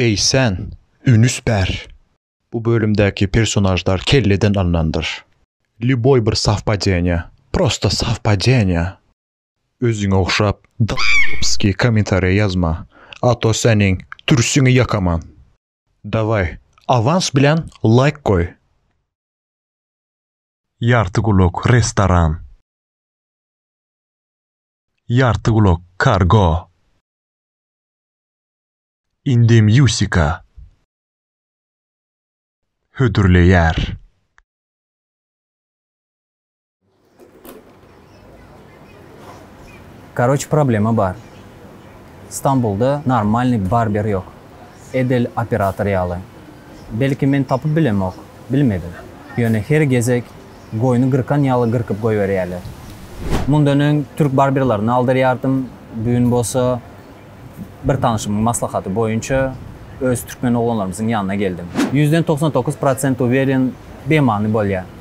Eý sen, ünüs ber! Bu bölümdäki personažlar kelleden alnandyr. Lýuboý bir sowpadeniýa, prosta sowpadeniýa! Özüňe ogşap doloýopskiý kommentariýa ýazma, a to seniň türsiňi ýakaman! Dawaý, awans bilen laýk goý! Ýartygulak restoran. Ýartygulak kargo. Indemýusika. Hödürleýär. Karoç problema bar. Stambulda normalnyý barber ýok. Edil operator ýaly. Belki men tapyp bilemok, bilmedim. Ýöne her gezek goýny gyrkan ýaly gyrkyp goýberýäler. Mundan öň türk barberlerini aldyrýardym, bu gün bolsa bir tanşymyň maslahaty boýunça öz türkmen oglanlarymyzyň ýanyna geldim. Ýüzden togsan dokuz prosent uweren bemany bolýar.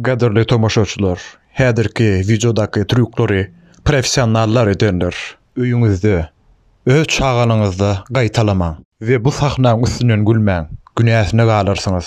Gadyrly tomaşaçylar, häzirki wideodaky trýuklary professionallar ederler. Öýüňizde, öz çagalaňyzda gaýtalamaň. We bu sahnaň üstünden gülmäň, günäsine galarsyňyz.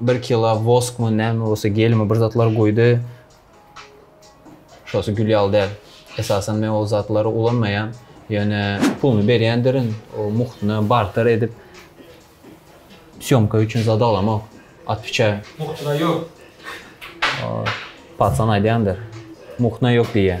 Bir kilo woskmy näme bolsa gelme bir zatlar goýdy. Şosy gül ýaly däl. Esasan men ol zatlary ulanmaýan. Ýöne puluny berýändirin. O muhtuna barter edip sýomka üçin zat alamok. Atwiçaýa. Muhtuna ýok. Patsan aýdýandyr. Muhtuna ýok diýýä.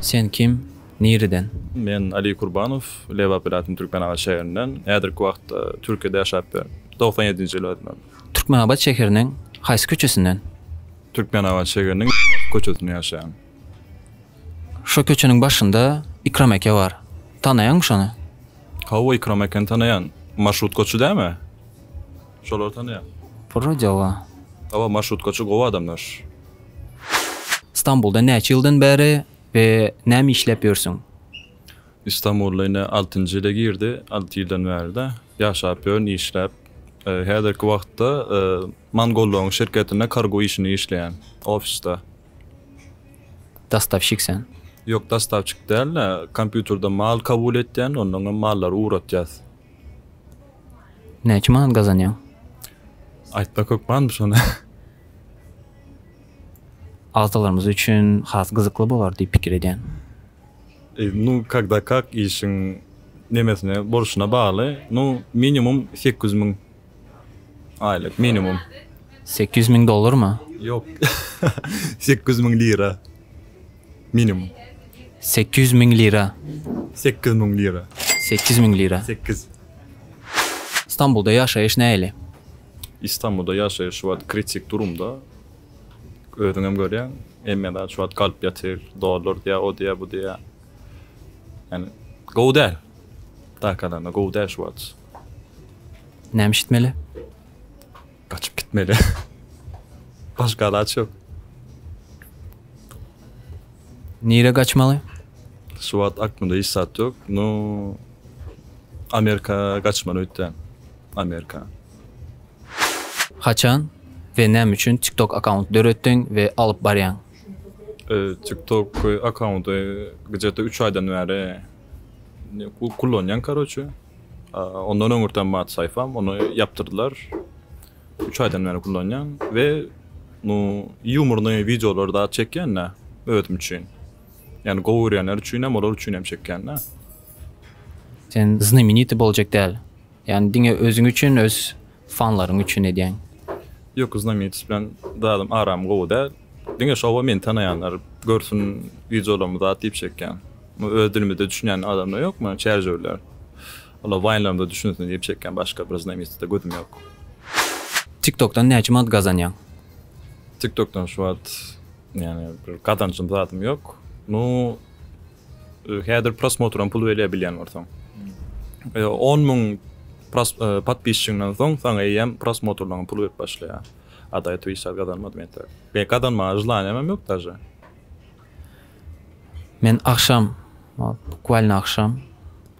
Sen kim? Nireden? Men Aliý Kurbanow, Lebap welaýatynyň Türkmenabat şäherinden. Häzirki wagtda Türkiýede ýaşap ýörün. Togsan ýedinji ýyl ödümem. Türkmenabat şäheriniň haýsy köçesinden? Türkmenabat şäheriniň köçesinde ýaşaýan. Şo köçeniň başynda Ikram eke bar. Tanaýaňmy şony? Hawa, Ikram ekeni tanaýan. Marşrutkaçy dämi? Şolary tanaýan. Wrodeoba. Hawa, marşrutkaçy gowy adamlar. Stambulda näçe ýyldan bäri we näme işläp ýörsüň? Istanbula ine altynjy ýyla girdi, alty ýyldan bärde ýaşap ýörün, işläp. Häzirki wagtda Mangollogyň şirketinde kargo işini işleýän, ofisde. Dostawşik sen? Ýok, dostawşik däl-de, kompýuterde mal kabul etýän, onnoňam mallary ugratýas. Näçe manat gazanýaň? Aýtmak hökmanmy şony? Agzalarymyz üçin has gyzykly bolar diýip pikir edýän. Nu kagda kak işiň nemesine borçuna bagly nu minimum sekiz ýüz müň. Aýlyk minimum. Sekiz ýüz müň dollarmy? Ýok. Sekiz ýüz müň lira. Minimum. Sekiz ýüz müň lira. Sekiz müň lira. Sekiz ýüz müň lira. Sekiz. Stambulda ýaşaýyş nähili? Istanbulda ýaşaýyş şu wagt kritik durumda. Özüň hem görýäň. Hemmelerde şu wagt galp ýatyr. Dollar diýýär, o diýýär, bu diýýär. Ýani gowy däl. Dakadana gowy däl şu wagt. Näme eşitmeli? Gaçyp gitmeli. Başga alaç yok. Nire gaçmaly? Şu wagt aklymda hiç zat yok. No Amerika gaçmaly öýtdän. Amerika. Haçan we näme üçin TikTok akkaunt döretdiň we alyp barýaň? Ee, TikTok e, accounty gıcete 3 aydan beri e, ku- kullanyan karoçe. Ondan öňürten bar saýpam, ony ýapdyrdylar. Üç aýdan bäri kullanýan we nu ýumornyý wideolary zat çekýän-dä özüm üçin. Ýani gowy görýänler üçin hem, olar üçin hem çekýän-dä. Sen znamenitý boljak däl. Ýani diňe özüň üçin öz Fanlaryň üçin edýäň. Ýok znamenitost bilen zadym aram gowy däl. Diňe şowa meni tanaýanlar görsün wideolarymy zat diýip çekýän. Öz dilimizde düşünýän adamlar ýokmy çärjewiler. Olar waýnlarymda düşünsin diýip çekýän başga bir znamenitosta gözüm ýok. Tiktokdan näçe manat gazanýaň. Tiktokdan şu wagt ýagny bir gazanjym zadym ýok. Nu. Häzir prosmotram pul berýär bilýän bolsaň. On müň podpisçiňden soň saňa eýýäm prosmotrlaryň pul berip başlaýar. A da ýetip hiç zat gazanmadym ýa-da. Be gazanmaga želaniýamam ýok daže. Men agşam, bukwalyna agşam.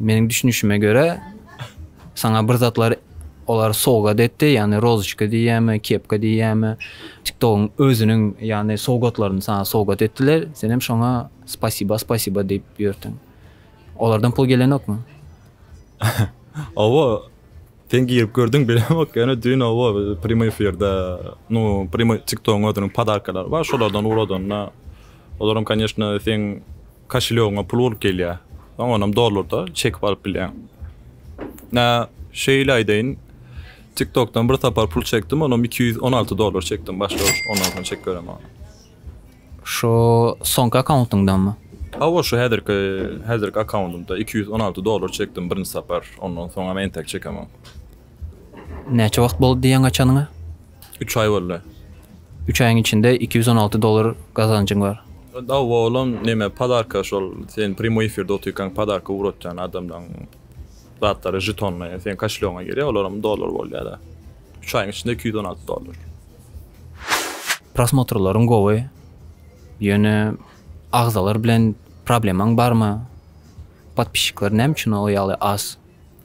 Meniň düşünişime görä, saňa bir zatlar olar sowgat etdi, ýagny rozoçka diýýärmi, kepka diýýärmi, TikTok-yň özüniň ýagny sowgatlaryny saňa sowgat etdiler, sen hem şoňa spasiba, spasiba diýip ýörtüň. Olardan pul gelenokmy? Hawa, sen girip gördüň bilemok, ýöne düýn hawa prýomy efirde, nu prýomy TikTok-yň özüniň podarkalary bar, şolardan uradanda, olar hem, kanyeshna, seň Koşelýogyňa pul bolup gelýär. Soň onam dollarda çekip alyp bilýäň. Nä, şeýle aýdaýyn, TikTokdan bir sapar pul çekdim, onam iki ýüz on alty dollar çekdim başda-baş, ondan soň çekip göremok ony. Şu soňky akkauntyňdanmy? Hawa, şu häzirki, häzirki akkaundymda iki ýüz on alty dollar çekdim birinji sapar, ondan soňam entek çekemok. Näçe wagt boldy diýýäň açanyňa? Üç aý boldy. Üç aýyň içinde iki ýüz on alty dollar gazanjyň bar. Hawa olam neme podarka şol sen primoý efirde otyrkaň podarka ugratýan adamlaň zatlary žetonly seň kaşlýogyňa girýär olaram dollar bolýada. Üç aýyň içinde iki ýüz on alty dollar. Prosmotrlaryň gowy. Ýöne agzalar bilen problemaň barmy? Podpisçikler näme üçin o ýaly az?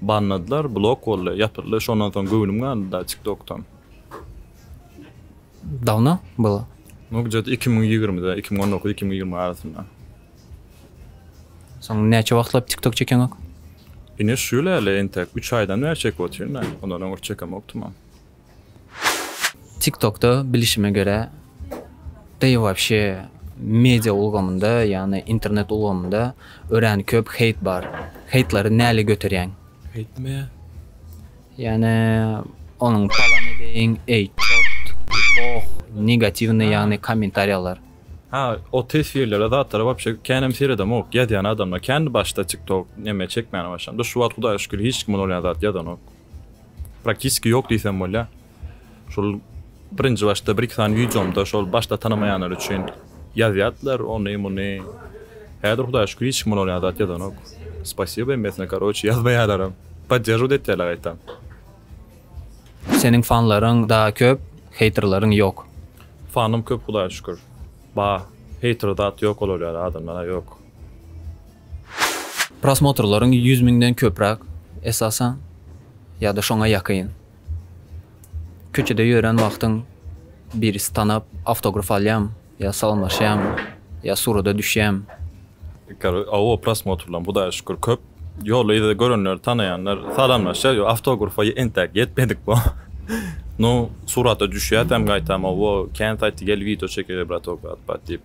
Banladylar blok boldy ýapyldy şondan soň göwnüm galdy da tik tokdan. Dawno bu? Bu gce t iki müň ýigrimide iki müň on dokuz iki müň ýigrimi arasynda. Soň näçe wagtlap tik tok çekeňok? Ine şu ýyl äle entek üç aýdan bäri çekip otyryn da ondan öň çekämokdym. TikTokda bilişime görä da i wapşe media ulgamynda ýagny internet ulgamynda örän köp heýt bar. Heýtlary näle göterýäň? Heýt nime ýa? Ýagny onuň salam edeýin, eý çort, loh, negatiwnyý ýagny kommentariýalar. Ha o teswirlere zatlara wapşe känem seredemok ýazýan adamlar kän başda tiktok neme çekmäne başlanda şu wagt hudaýa şükür hiç kim bolýan zat ýazanok. Praktiski ýok diýsem bolýar. Şol birinji başda bir-iki sany wideomda şol başda tanamaýanlar üçin ýazýardylar ony muny. Häzir Hudaýa şükür hiç kim olara zat ýazanok. Spasiba hemmesine karoçi ýazmaýarlaram. Podderžiwat etýärler gaýtam. Seniň fanlaryň daa köp, heýterlaryň ýok. Fanym köp Hudaýa şükür. Bar. Heýter zat ýok olar ýaly adamlar ýok. Prosmotrlaryň ýüz müňden köpräk, esasan, ýa-da şoňa ýakyn. Köçede ýörän wagtyň birisi tanap, awtograf alýarmy ýa salamlaşýarmy ýa surata düşýärmi? Ykar, Hawa, prosmotrlaryň, Hudaýa şükür, köp. Ýolda-yzda görenler, tanaýanlar salamlaşýar, ýok, awtografa entäk ýetmedik bu. Nu, surata düşýäsem gaýtam, Hawa, kän saýtda gel wideo çekeli, bratok, at-pat diýip.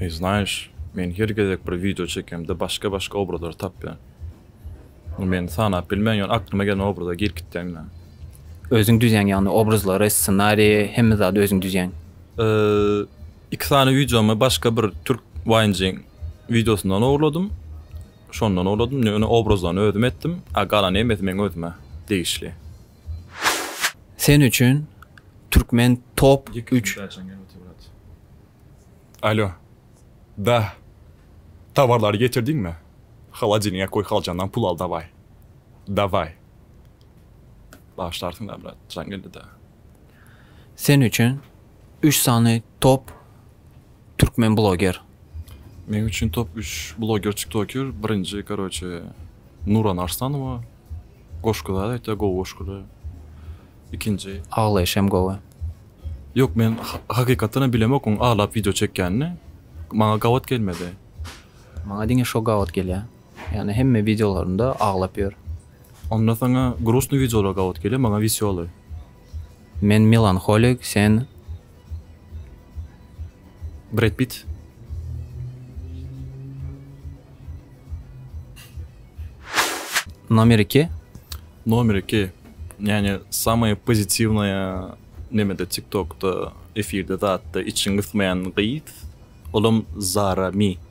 Eý znaýyş, men her gezek bir wideo çekemde başga başga obrazlary tapýan. Ony men sanap bilmen ýöne aklyma gelen obraza girip gitýän men. Özüň düzýäň ýagny obrazlary, ssenariýi, hemme zady özüň düzýäň. Iki sany wideomy başga bir türk waýnjyň wideosyndan ogurladym. Şondan ogurladym, ýöne obrazlaryny özüm etdim, a galan hemmesi meň özüme degişli. Sen üçin türkmen top üç. Alo. Da. Towarlary getirdiňmi? Holodilniga goý haljandan pul al dawaý. Dawaý. Bagyşlarsyňlar brat, jaň geldi-dä. Sen üçin üç sany top türkmen bloger. Meň üçin top üç bloger tiktoker birinji karoçe Nuran Arslanowa. Goşgy zat aýtýar gowy goşgyda ikinji. Aglaýyş hem gowy. Ýok men hakykatdan hem bilemok oň aglap wideo çekýänini maňa gabat gelmedi. Maňa diňe şo gabat gelýä. Ýagny hemme wideolarynda aglap ýör. Onda saňa grusnyý wideolar gabat gelýä maňa wesýoly. Men melanholik sen Bred Pitt. Nomer iki. Nomer iki. Yani samaya pozitivnaya nemede tiktokda efirde zatda içiň gysmayan gyz. Olam zara mi.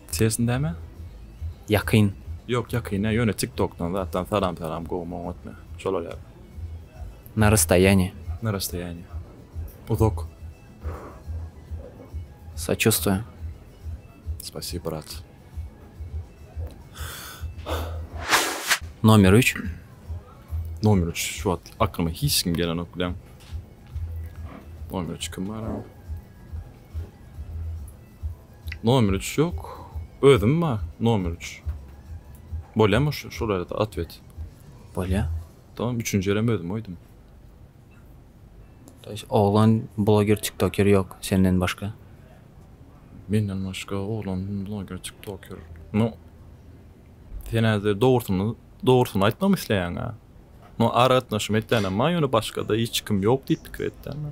Sesin näme? Ýakyn. Ýok ýakyn däl ýöne tiktokdan zatdan salam salam gowmy oňatmy şolar ýaly. Na rastoýanýe. Na rastoýanýe. Uzak. Saçustuýam. Spasibo brat. Nomer üç. Nomer üç şu wagt aklyma hiç kim gelenok bileň. Nomer üç kim bar. Nomer üç ýok. Özüm bar nomer üç. Bolýamy şu şularda atwet? Bolýa. Tamam üçünji ýerem özüm goýdum. Daş oglan bloger tiktoker ýok senden başga. Menden başga oglan bloger tiktoker. No. Sen häzir dogrusyny dogrusyny aýtmamy isleýäň-a. No aragatnaşym etýänem bar ýöne başgada hiç kim ýok diýip pikir etýän.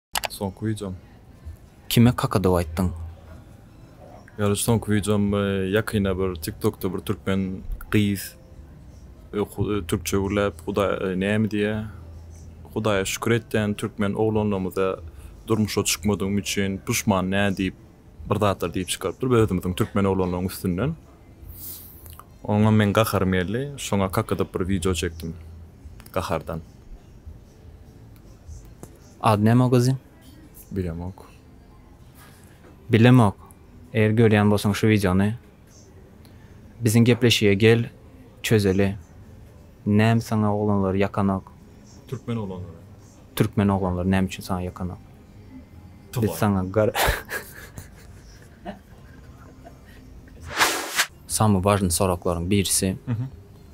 Soňky wideom. Kime kakadow aýtdyň. Gardaş soňky wideom ýakynda bir tiktokda bir türkmen gyz türkçe gürläp hudaýa näme diýýä hudaýa şükür etýän türkmen oglanlarymyza durmuşa çykmadygymy üçin puşman nä diýip bir zatlar diýip çykarypdyr özümiziň türkmen oglanlaryň üstünden oňa meň gaharym geldi şoňa kakadyp bir wideo çekdim gahardan. Ady näme o gyzyň? Bilemok. Bilemok. Eger görýän bolsaň şu wideony biziň gepleşige gel çözeli. Näm saňa oglanlar ýakanok? Türkmen oglanlary. Türkmen oglanlary näme üçin saňa ýakanok? Biz saňa gar Samy wažny soraklaryň birisi.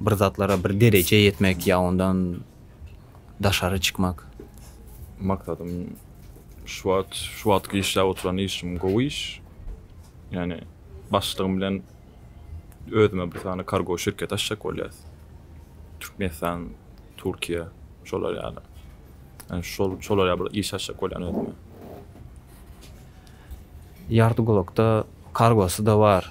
bir zatlara bir derejä ýetmek ýa ondan daşary çykmak. Maksadym şu wagt şu wagtky işläp oturan işim gowy iş. Ýani başlygym bilen özüme bir sany kargo şirketi açjak bolýas. Türkmenistan, Türkiýe şolar ýaly. Ýani şol şolar ýaly bir iş açjak bolýan özüme. Ýartygulakda kargosy-da bar.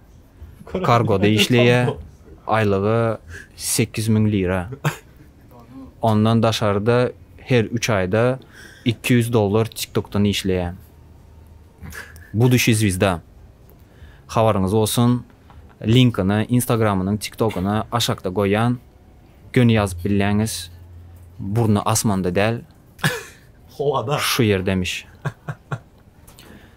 Kargoda işleýär. Aýlygy sekiz müň lira. Ondan daşarda her üç aýda iki ýüz dollar TikTokdan işleýän. Budushi zwizda. Habaryňyz bolsun. Linkini Instagramynyň, TikTogyny aşakda goýýan. Göni ýazyp bilýäňiz. Burny asmanda däl. Howada. Şu ýerdemiş.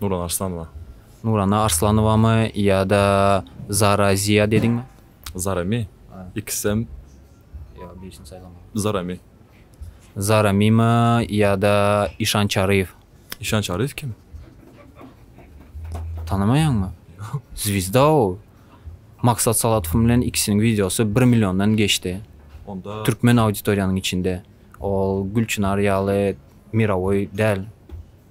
Nurana Arslanowa. Nurana Arslanowamy ýa-da Zara Ziýa dediňmi? Zarami. Ikisem. Ýok, birisini saýlamaly. Zarami. Zaramimi ýa-da Işan Çaryýew? Işan Çaryýew kim? Tanamaýaňmy? Ýok. Zwizda ol. Maksat Salatow bilen ikisiniň wideosy bir milliondan geçdi. Onda. Türkmen auditoriýanyň içinde. Ol Gülçynar ýaly mirowoý däl.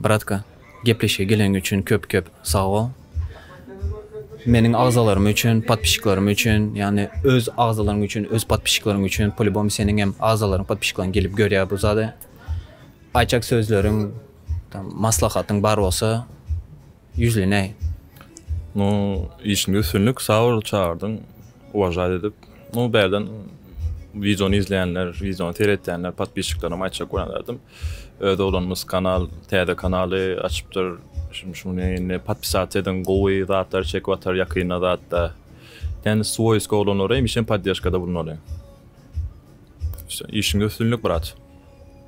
Bratka gepleşige geleniň üçin köp köp sag bol. Meniň agzalarym üçin, podpişiklarym üçin, ýagny öz agzalaryň üçin, öz podpişiklaryn üçin polibom seniň hem agzalaryň podpişiklaryn gelip görýär bu zady. Aýtjak sözleriň, maslahatyň bar bolsa, Ýüzli näý? Nu işinde üstünlik saol çagyrdyň uwažaýt edip nu bärden wideony izleýänler wideony seretýänler podpisçiklerime aýtjak bolan zadym öz oglanymyz kanal täze kanaly açypdyr şum şuny indi podpisat ediň gowy zatlar çekip atar ýakynda zatda ýani swoýski oglanlara hemişem poddežkada bulunali işiňde üstünlik brat.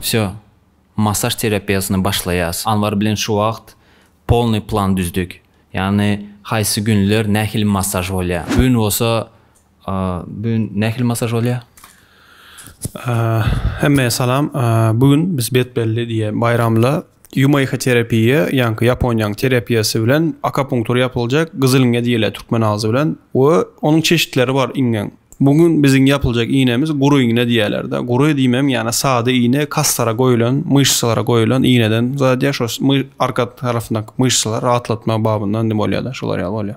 Wsýo, massaž terapiýasyny başlaýas. Anwar bilen şu wagt polnyý plan düzdük. Ýagny haýsy günler nähili massaž bolýa. Bu gün bolsa bu gün nähili massaž bolýa? Hemmäe salam. Bu gün biz betbelli diýe baýramla Ýumeýha terapiýa, ýaňky Ýaponiýanyň terapiýasy bilen akapunktur ýapyljak, gyzyl iňňe diýilýär türkmen agzy bilen we onuň çeşitleri bar iňňeň. Bu gün biziň ýapyljak iýnemiz gury iňňe diýýärler-de. Gury diýmem, ýana sada iýne kassara goýulan, myşsalara goýulan iýneden zadýa, şo arka tarapyndaky myşsalary rahatlatma babyndan bolýa-da, şolar ýaly bolýa.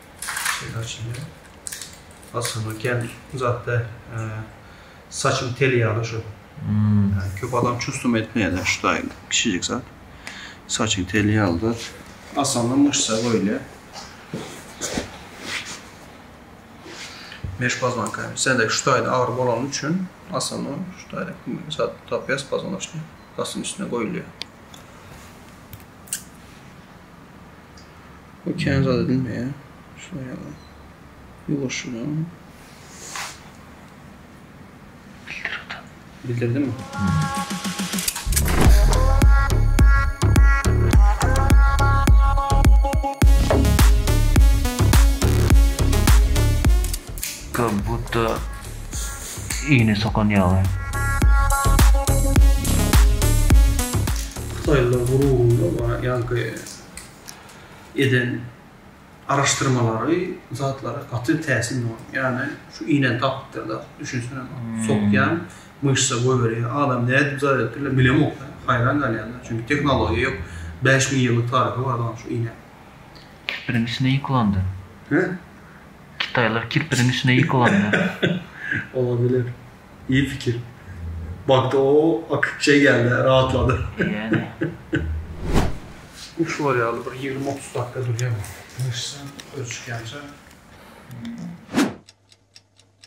Şeýle açylýar. Aslynda kän uzak däl. Saçyň teli ýaly şu. Ýani köp adam çusdum etmeýärler şu taýyny. Kiçijik zat. Saçyň teli ýaly zat. Aslynda myşsa goýulýar. Meş pozwanka. Sendeki şu taýda agyry bolany üçin aslynda şu taýda zat tapýas pozwanocny. Saçyň üstüne goýulýar. Bu kän zat edinmeýär. Şular ýaly. Ýuwaşja. Bildirdimi? Ka-butta Iýni sokan ýaly. Hytaýlylar gururynda we ýaňky eden araşdyrmalary zatlara gaty täsin bolan. Ýany şu iýnäni tapypdyrlar. Düşünsene bak. Sokýan myşsa goýberýär. Adam nädip zar edipdirler bilemok da. Haýran galýan-da. Çünki tehnologiýa ýok. Bäş müň ýyllyk taryhy bar dagyň şu iýnäniň. Birinjisine ýykylandy. Hä? Kitaýlar kirpiniň içine ýykylanlar. Olar bilen iyi fikir. Bagty o akyp şey geldi rahatlady. Ýäne. Uç bar ýaly bir ýigrimi otuz dakika durýar. Myşsa ösüşýänçä.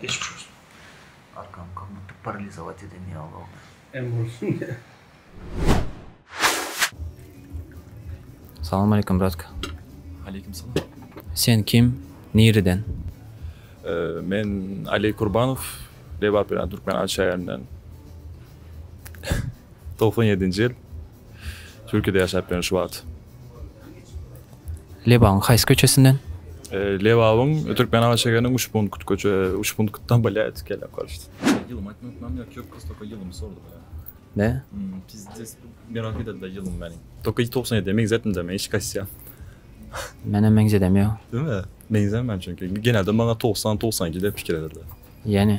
Geçmiş olsun. Arkam kamyp paralizovat eden ya Allah. Em olsun. Salam aleyküm bratka. Aleyküm salam. Sen kim? Nireden? Ee, men Ali Kurbanov, Lebap Türkmen Alşaýerinden. 97-nji ýyl. Türkiýede ýaşap ýörün şu wagt. Lebabyň haýsy köçesinden? Lebabyň Türkmenabat şägeriniň Uşpunkt köçe Uşpunktdan bolýar gelen koşt. Ýylymy aýtmak ykmam ýok ýok prosto tokay ýylymy sordy maňa. Ne? Pizdis merak edildi ýylym meniň. Tokay togsan ýedi meňzetmde men hiç kaysya. Menem meňzedem ýok. Deme meňzemän çünki genelde maňa togsan togsan iki dep pikir edildi. Ýene.